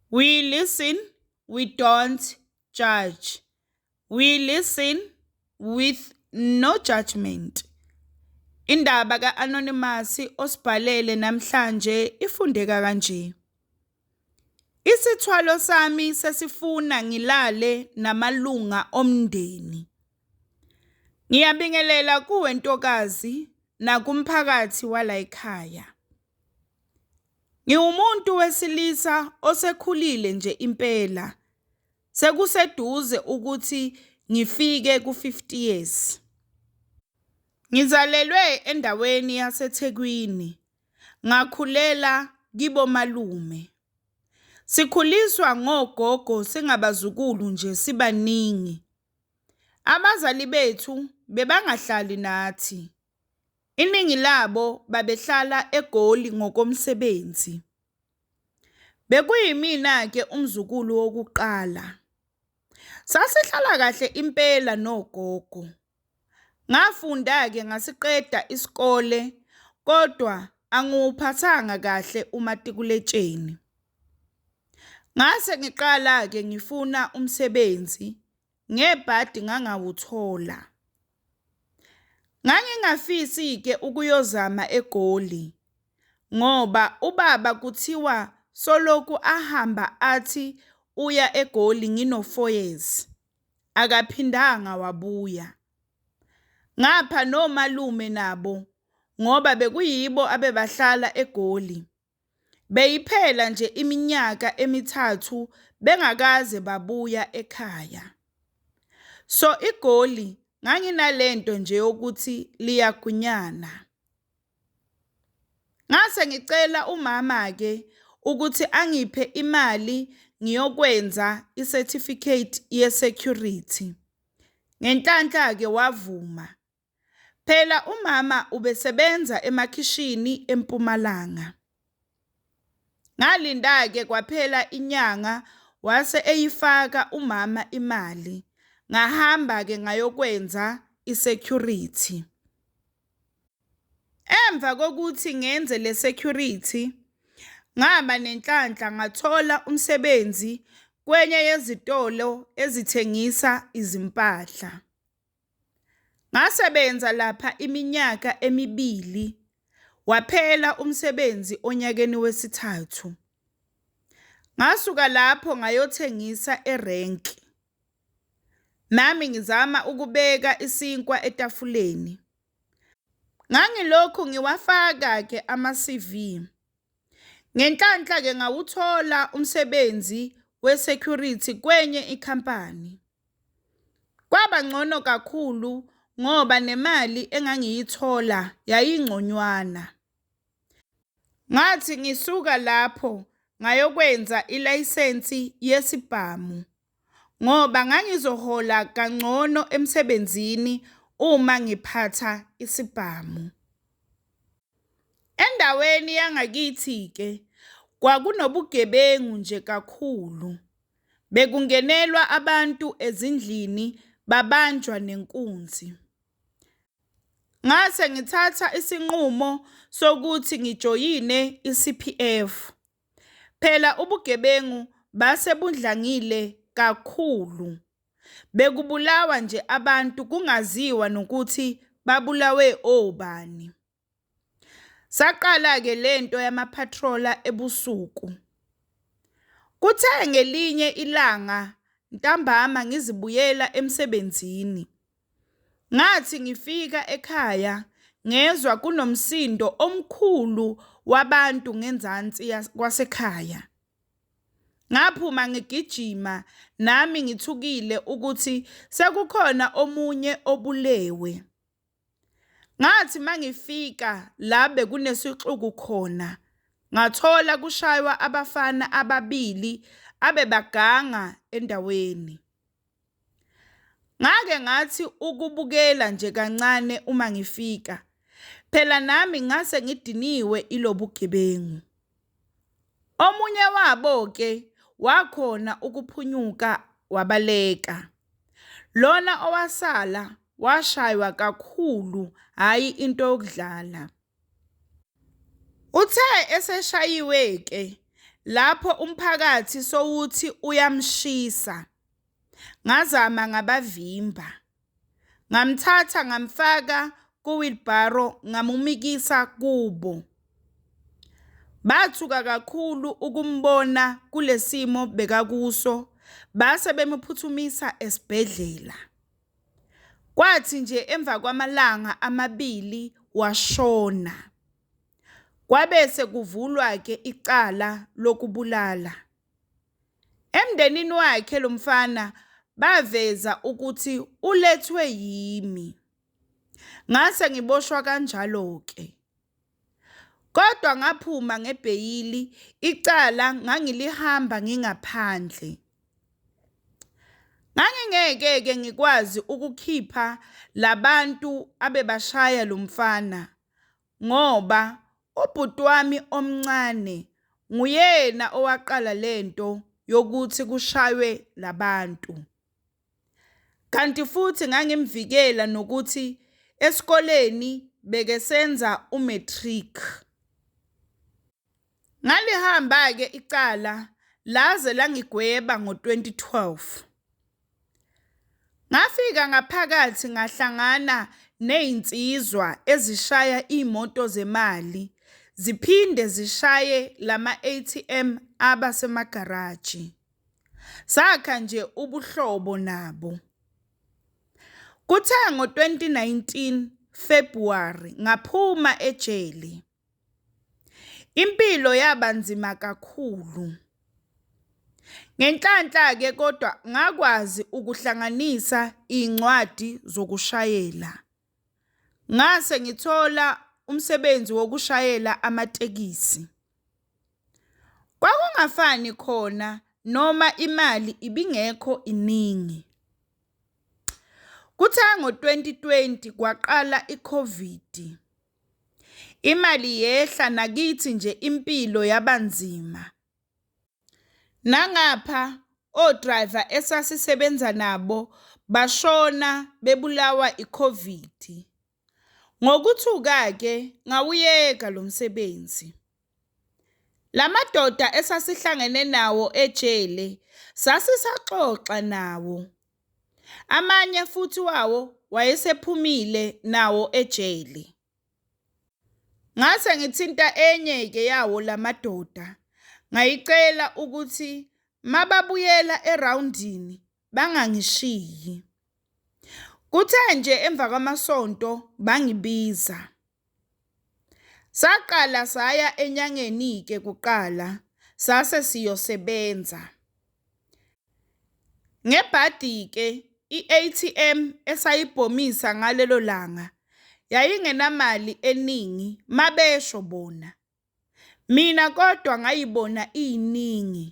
We listen, we don't judge. We listen with no judgment. Indaba ka-Anonymous osibhalele namhlanje ifundeka kanje. Isithwalo sami sesifuna ngilale namalunga omndeni. Ngiyabingelela kuwe ntokazi nakumphakathi walayikhaya. Ngiwumuntu wesilisa osekhulile nje impela, sekuseduze ukuthi ngifike ku-fifty years. Ngizalelwe endaweni yaseThekwini, ngakhulela kibomalume. Sikhuliswa ngogogo singabazukulu nje sibaningi. Abazali bethu bebangahlali nathi. Iningi labo babehlala eGoli ngokomsebenzi. Bekuyimina-ke umzukulu wokuqala. Sasihlala kahle impela nogogo. Ngafunda-ke ngasiqeda isikole kodwa angiwuphathanga kahle umatikuletsheni. Ngase ngiqala-ke ngifuna umsebenzi ngebhadi ngangawuthola. Ngangingafisi-ke ukuyozama eGoli ngoba ubaba kuthiwa soloku ahamba athi uya eGoli ngino-four years, akaphindanga wabuya. Ngapha nomalume nabo ngoba bekuyibo abebahlala eGoli. Beyiphela nje iminyaka emithathu bengakaze babuya ekhaya. So iGoli nganginalento nje yokuthi liyagunyana. Ngase ngicela umama-ke ukuthi angiphe imali ngiyokwenza i-certificate ye-security. Ngenhlanhla-ke wavuma. Phela umama ubesebenza emakhishini eMpumalanga. Ngalinda-ke kwaphela inyanga wase eyifaka umama imali. Ngahamba-ke ngayokwenza i-security. Emva kokuthi ngenze le security ngaba nenhlanhla ngathola umsebenzi kwenye yezitolo ezithengisa izimpahla. Ngasebenza lapha iminyaka emibili, waphela umsebenzi onyakeni wesithathu. Ngasuka lapho ngayothengisa erenki. Nami ngizama ukubeka isinkwa etafuleni. Ngangilokhu ngiwafaka-ke ama-CV. Ngenhlanhla-ke ngawuthola umsebenzi we-security kwenye ikhampani. Kwaba ngcono kakhulu ngoba nemali engangiyithola yayingconywana. Ngathi ngisuka lapho ngayokwenza ilayisensi yesibhamu ngoba ngangizohola kangcono emsebenzini uma ngiphatha isibhamu. Endaweni yangakithi-ke kwakunobugebengu nje kakhulu. Bekungenelwa abantu ezindlini babanjwa nenkunzi. Ngase ngithatha isinqumo sokuthi ngijoyine i-C_P_F. Phela ubugebengu base budlangile kakhulu. Bekubulawa nje abantu kungaziwa nokuthi babulawe obani. Saqala-ke le nto yama-patroller ebusuku. Kuthe ngelinye ilanga ntambama ngizibuyela emsebenzini, ngathi ngifika ekhaya ngezwa kunomsindo omkhulu wabantu ngenzansi kwasekhaya. Ngaphuma ngigijima nami ngithukile ukuthi sekukhona omunye obulewe. Ngathi uma ngifika la bekunesixuku khona, ngathola kushaywa abafana ababili abebaganga endaweni. Ngake ngathi ukubukela nje kancane uma ngifika, phela nami ngase ngidiniwe ilobugebengu. Omunye wabo-ke wakhona ukuphunyuka wabaleka. Lona owasala washaywa kakhulu hhayi into yokudlala. Uthe eseshayiwe-ke lapho umphakathi sowuthi uyamshisa, ngazama ngabavimba. Ngamthatha ngamfaka kuwilbharo ngamumikisa kubo. Bathuka kakhulu ukumbona kulesimo bekakuso base bemuphuthumisa esibhedlela. Kwathi nje emva kwamalanga amabili washona. Kwabese kuvulwa ke icala lokubulala. Emndenini wakhe lo mfana baveza ukuthi ulethwe yimi. Ngase ngiboshwa kanjalo-ke. Kodwa ngaphuma ngebheyili, icala ngangilihamba ngingaphandle. Ngangingeke-ke ngikwazi ukukhipha labantu abebashaya lo mfana ngoba ubhuti wami omncane nguyena owaqala le nto yokuthi kushaywe labantu. Kanti futhi ngangimvikela nokuthi esikoleni bekesenza u-matric. Ngalihamba-ke icala laze langigweba ngo-2012. Ngafika ngaphakathi ngahlangana ney'nsizwa ezishaya iy'moto zemali ziphinde zishaye lama-ATM aba semagaraji. Sakha nje ubuhlobo nabo. Kuthe ngo-2019 February ngaphuma ejele. Impilo yaba nzima kakhulu. Ngenhlanhla-ke kodwa ngakwazi ukuhlanganisa iy'ncwadi zokushayela. Ngase ngithola umsebenzi wokushayela amatekisi. Kwakungafani khona noma imali ibingekho iningi. Kuthe ngo-twenty twenty kwaqala i-COVID. Imali yehla nakithi nje impilo yabanzima. Nangapha o-driver esasisebenza nabo bashona bebulawa i-COVID. Ngokuthuka-ke ngawuyeka lo msebenzi. La madoda esasihlangene nawo ejele sasisaxoxa nawo Amanye futhi wawo wayesephumile nawo ejele. Ngase ngithinta enye-ke yawo la madoda ngayicela ukuthi mababuyela erawundini bangangishiyi. Kuthe nje emva kwamasonto bangibiza. Saqala saya enyangeni-ke kuqala sase siyosebenza. Ngebhadi-ke i-A_T_M esayibhomisa ngalelo langa yayingenamali eningi mabesho bona. Mina kodwa ngayibona iyiningi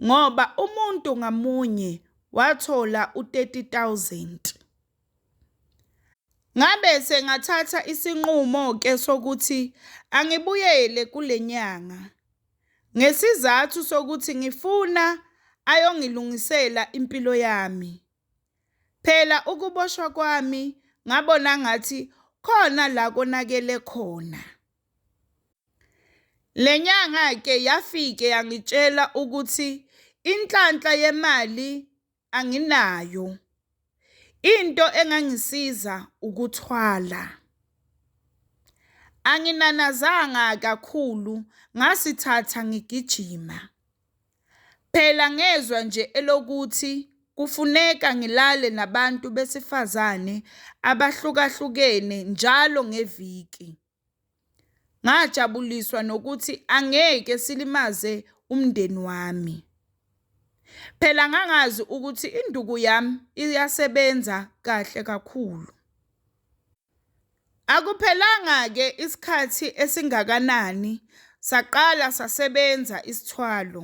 ngoba umuntu ngamunye wathola u-30,000. Ngabe sengathatha isinqumo-ke sokuthi angibuyele kule nyanga ngesizathu sokuthi ngifuna ayongilungisela impilo yami. Phela ukuboshwa kwami ngabona ngathi khona la konakele khona. Le nyanga-ke yafike yangitshela ukuthi inhlanhla yemali anginayo. Into engangisiza ukuthwala. Anginanazanga kakhulu ngasithatha ngigijima. Phela ngezwa nje elokuthi kufuneka ngilale nabantu besifazane abahlukahlukene njalo ngeviki. Ngajabuliswa nokuthi angeke silimaze umndeni wami. Phela ngangazi ukuthi induku yami iyasebenza kahle kakhulu. Akuphelanga-ke isikhathi esingakanani saqala sasebenza isithwalo.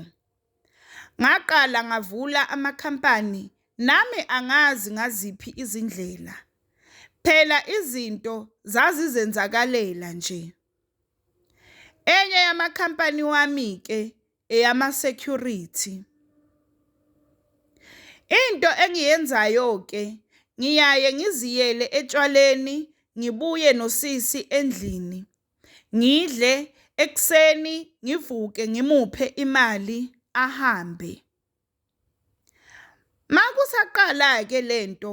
Ngaqala ngavula amakhampani nami angazi ngaziphi izindlela. Phela izinto zazizenzakalela nje. Enye yamakhampani wami-ke eyama-security. Into engiyenzayo-ke ngiyaye ngiziyele etshwaleni ngibuye nosisi endlini. ngidle ekuseni ngivuke ngimuphe imali ahambe. Makusaqala-ke le nto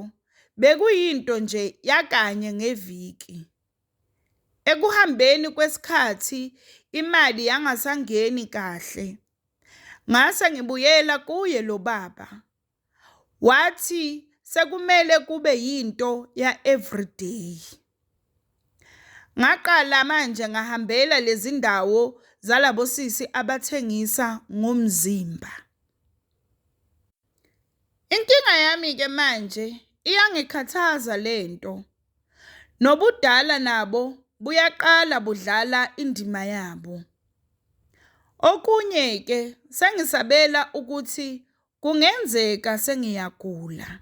bekuyinto nje yakanye ngeviki. Ekuhambeni kwesikhathi imali yangasangeni kahle, ngase ngibuyela kuye lo baba. wathi sekumele kube yinto ya everyday ngaqala manje ngahambela lezi ndawo zalabo sisi abathengisa ngomzimba inkinga yami ke manje iyangikhathaza lento nobudala nabo buyaqala budlala indima yabo Okunye ke sengisabela ukuthi Kungenzeka sengiyagula.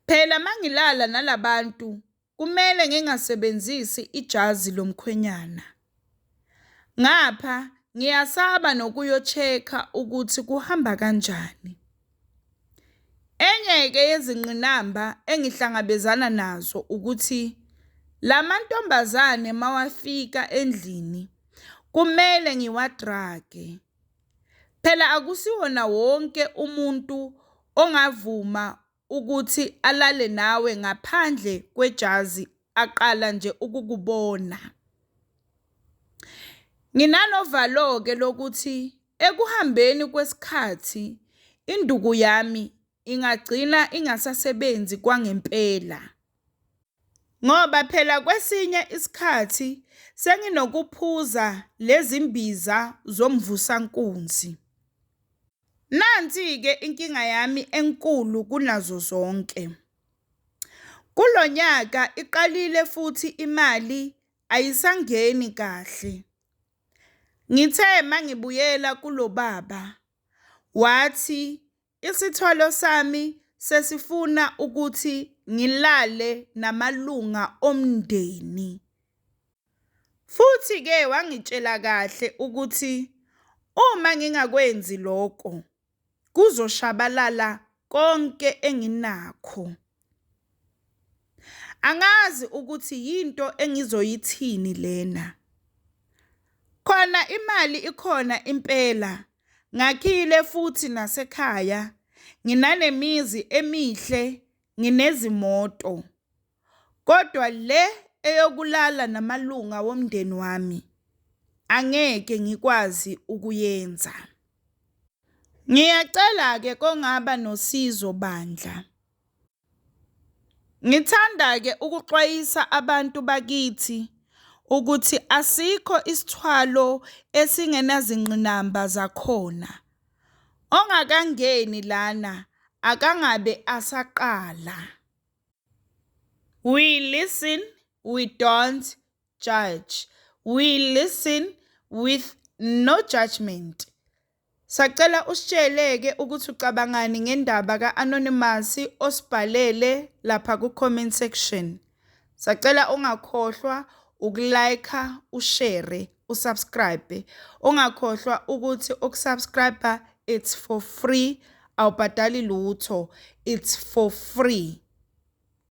Phela mangilala nalabantu kumele ngingasebenzisi ijazi lomkhwenyana. Ngapha ngiyasaba nokuyocheka ukuthi kuhamba kanjani. Enye-ke yezingqinamba engihlangabezana nazo ukuthi la mantombazane mawafika endlini kumele ngiwadrage. Phela akusiwona wonke umuntu ongavuma ukuthi alale nawe ngaphandle kwejazi aqala nje ukukubona. Nginanovalo-ke lokuthi ekuhambeni kwesikhathi induku yami ingagcina ingasasebenzi kwangempela. Ngoba phela kwesinye isikhathi senginokuphuza lezi mbiza zomvusankunzi. Nansi-ke inkinga yami enkulu kunazo zonke. Kulo nyaka iqalile futhi imali ayisangeni kahle. Ngithe mangibuyela kulo baba wathi Isithwalo sami sesifuna ukuthi ngilale namalunga omndeni. Futhi-ke wangitshela kahle ukuthi uma ngingakwenzi loko kuzoshabalala konke enginakho. Angazi ukuthi yinto engizoyithini lena. Khona imali ikhona impela. Ngakhile futhi nasekhaya. Nginanemizi emihle, nginezimoto. Kodwa le eyokulala namalunga womndeni wami angeke ngikwazi ukuyenza. Ngiyacela-ke kongaba nosizo bandla. Ngithanda-ke ukuxwayisa abantu bakithi ukuthi asikho isithwalo esingenazingqinamba zakhona. Ongakangeni lana akangabe asaqala. We listen, we don't judge. We listen with no judgement. Sacela usitsheleke ukuthi ucabangani ngendaba ka Anonymous osibhalele lapha ku comment section. Sacela ungakhohlwa uku like, u share, u subscribe. Ungakhohlwa ukuthi uku subscribe it's for free awubhadali lutho it's for free.